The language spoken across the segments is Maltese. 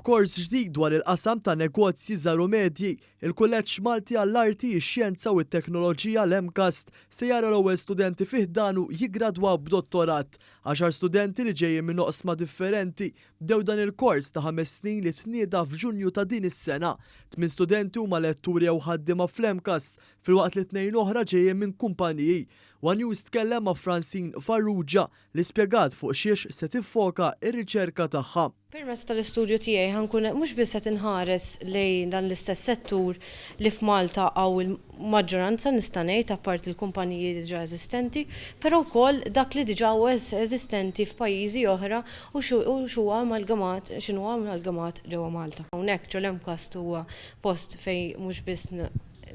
B'kors ġdid dwar il-qasam ta' negozji żgħar u medji, il-Kulleġġ Malti għall-Arti, ix-Xjenza u t-Teknoloġija, l-MCAST, se jara l-ewwel studenti fi ħdanu jiggradwaw b'dottorat. Għaxar studenti li ġejjin minn oqsma differenti bdew dan il-kors ta' ħames snin li tnieda f'Ġunju ta' din is-sena. Tmien studenti huma letturi jew ħaddiema fl-MCAST, filwaqt li tnejn oħra ġejjin minn kumpaniji. One News tkellem ma' Francine Farrugia, li spjegat fuq xiex se tiffoka r-riċerka tagħha. Permezz tal-istudju tiegħi ħa nkun qed mhux biss qed inħares lejn dan l-istess settur li f'Malta hawn il-maġġoranza nista' ngħid apparti l-kumpaniji diġà eżistenti, però wkoll dak li diġà huwa eżistenti f'pajjiżi oħra u x'huwa amalgamat, x'inhu amalgamat ġewwa Malta. Hawnhekk Ġol Mcast huwa post fejn mhux biss.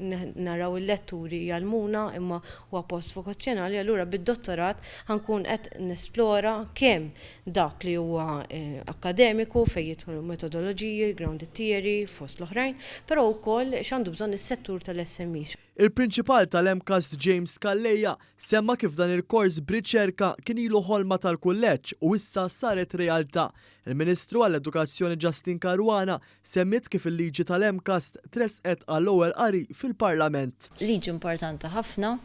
naraw il-letturi jgħallmuna imma huwa post vokazzjonali allura bid-dottorat ħa nkun qed nesplora kemm dak li huwa akkademiku fejn jidħlu metodoloġiji, grounded theory fost l-oħrajn, però wkoll x'għandu bżonn is-settur tal-SMEs. Il-Prinċipal tal-MCAST James Calleja semma kif dan il-kors b'riċerka kien ilu ħolma tal-kulleġġ u issa saret realtà. Il-Ministru għall-Edukazzjoni Justyne Caruana Semmiet kif il-liġi tal-MCAS tressqet għall-ewwel qari fil-Parlament. Liġi importanti ħafna,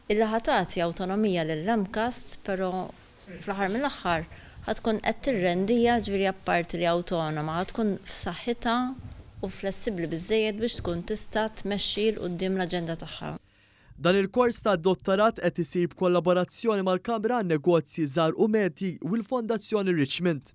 illi ħa tagħti awtonomija lill-MCAS, però fl-aħħar mill-aħħar ħa tkun qed tirrendiha, ġifieri apparti li awtonoma, ħa tkun f'saħħitha u flessibbli biżżejjed biex tkun tista' tmexxi 'l quddiem l-aġenda tagħha. Dan il-kors ta' dottarat qed isir b'kollaborazzjoni mal-Kamra għan-Negozji Żgħar u Medji u l-Fondazzjoni Richmond.